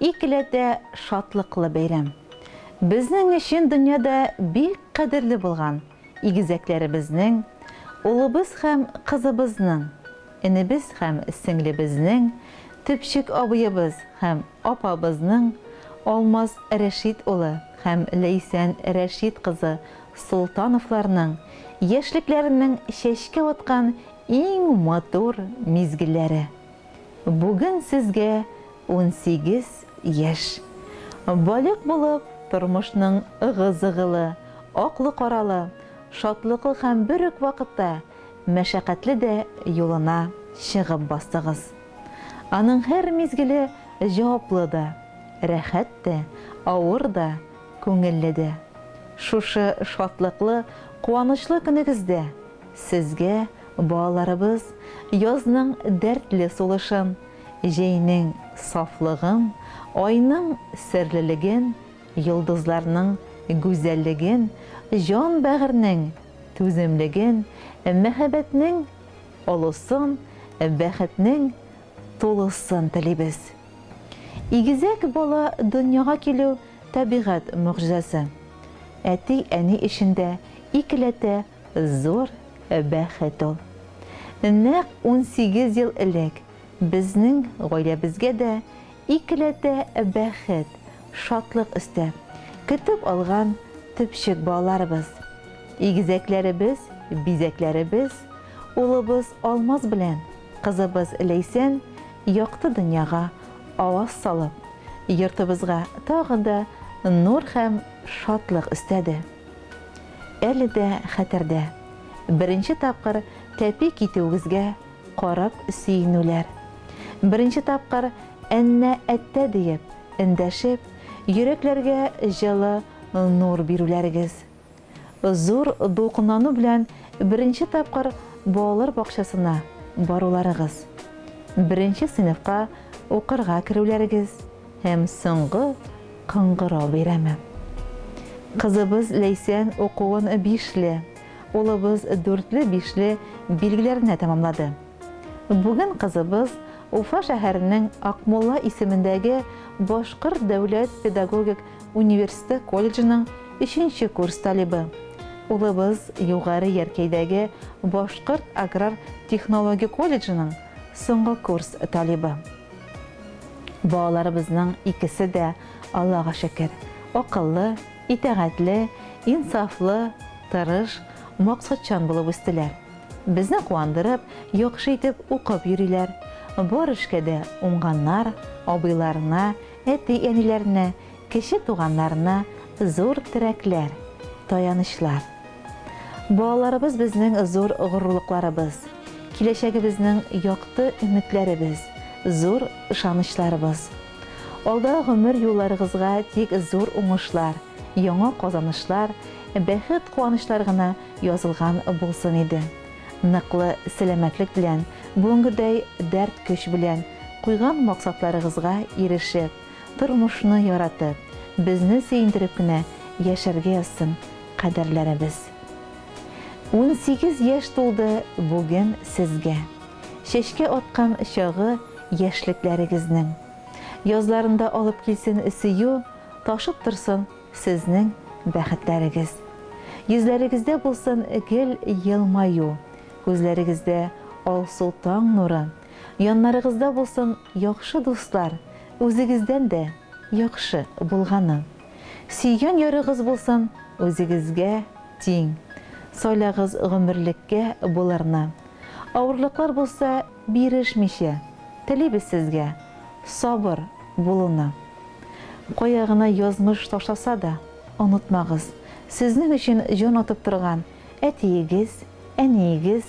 Икеләтә шатлыклы бәйрәм. Безнең өчен дөньяда бик кадерле булган игезәкләребезнең, улыбыз һәм кызыбызның, энебез һәм сеңлебезнең, төпчек абыебыз һәм апабызның, Алмаз Рәшит улы һәм Ләйсән Рәшит кызы Солтановларның яшьлекләренең чәчкә аткан иң матур мизгелләре. Бүген сезгә унсигез яшь. Балигъ булып, тормышның ыгы-зыгылы, аклы-каралы, шатлыклы һәм бер үк вакытта мәшәкатьле дә юлына чыгып бастыгыз. Аның һәр мизгеле җаваплы да, рәхәт тә, авыр да, күңелле дә. Шушы шатлыклы, куанычлы көнегездә! Сезгә, балаларыбыз, язның дәртле сулышын, җәйнең сафлыгын, айның серлелеген, йолдызларның гүзәллеген, җан-бәгырьнең түземлеген, мәһабәтнең олысын, бәхетнең тулысын телибез. Игезәк бала дөньяга килү, табигать могҗизасы. Әти-әни эчендә икеләтә Зур бәхет ул. Нәкъ унсигез ел элек безнең гаиләбезгә дә икеләтә бәхет, шатлык өстә, көтеп алган төпчек балаларыбыз, игезәкләребез, бизәкләребез, улыбыз Алмаз белән кызыбыз Ләйсән якты дөньяга аваз салып, йортыбызга тагын да нур һәм шатлык өстәде. Әле дә хәтердә, беренче тапкыр тәпи китүегезгә карап сөенүләр. Беренче тапкыр Әннә әттә диеп, эндәшеп, йөрәкләргә җылы нур бирүләрегез. Зур дулкынлану белән беренче тапкыр балалар бакчасына баруларыгыз. Беренче сыйныфка укырга керүләрегез. Һәм соңгы кыңгырау бәйрәме. Кызыбыз Ләйсән укуын бишле, улыбыз дүртле-бишле билгеләренә тәмамлады. Бүген кызыбыз Уфа шәһәренең Акмулла исемендәге Башкорт дәүләт педагогик университы колледжының өченче курс талибы. Улыбыз Югары Яркәйдәге Башкорт аграр технология колледжының соңгы курс талибы. Балаларыбызның икесе дә, Аллага шөкер, акыллы, итәгатьле, инсафлы, тырыш, максатчан булып үстеләр. Безне куандырып, яхшы итеп укып йөриләр. Бар эшкә дә уңганнар, абыйларына, әти-әниләренә, Кече туганнарына зур терәкләр, таянычлар. Балаларыбыз безнең зур горурлыкларыбыз, киләчәгебезнең якты өметләребез, зур ышанычларыбыз. Алда гомер юлларыгызга тик зур уңышлар, яңа казанышлар, бәхет-куанычлар гына язылган булсын иде. Ныклы сәламәтлек белән, бүгенгедәй дәрт-көч белән, куйган максатларыгызга ирешеп, тормышны яратып, безне сөендереп кенә яшәргә язсын кадерләребез. Унсигез яшь тулды бүген сезгә. Чәчкә аткан чагы яшьлекләрегезнең. Язларында алып килсен сөю, ташып торсын сезнең бәхетләрегез. Йөзләрегездә булсын гел елмаю, күзләрегездә алсу таң нуры, яннарыгызда булсын Яхшы дуслар, үзегездән дә яхшы булганы. Сөйгән ярыгыз булсын үзегезгә тиң. Сайлагыз гомерлеккә боларны. Авырлыклар булса, бирешмичә, телибез сезгә сабыр булуны. Кая гына язмыш ташласа да, онытмагыз, сезнең өчен җан атып торган әтиегез, әниегез,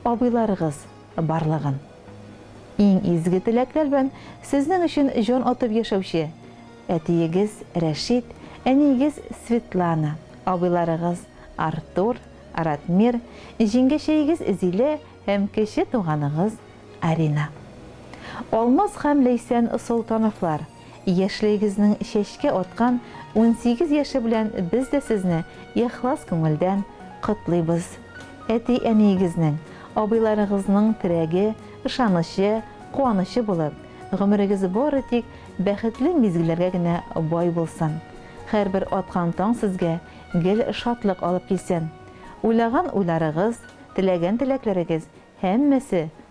абыйларыгыз барлыгын. Иң изге теләкләр белән сезнең өчен җан атып яшәүче әтиегез Рәшит, әниегез Светлана, абыйларыгыз Артур, Ратмир, җиңгәчәегез Зилә һәм кече туганыгыз Арина. Алмаз һәм Ләйсән Солтановлар. Яшьлегегезнең чәчкә аткан унсигез яше белән без дә сезне ихлас күңелдән котлыйбыз. Әти-әниегезнең, абыйларыгызның терәге, ышанычы, куанычы булып, гомерегез бары тик бәхетле мизгелләргә генә бай булсын. Һәрбер аткан таң сезгә гел шатлык алып килсен. Уйлаган уйларыгыз, теләгән теләкләрегез һәммәсе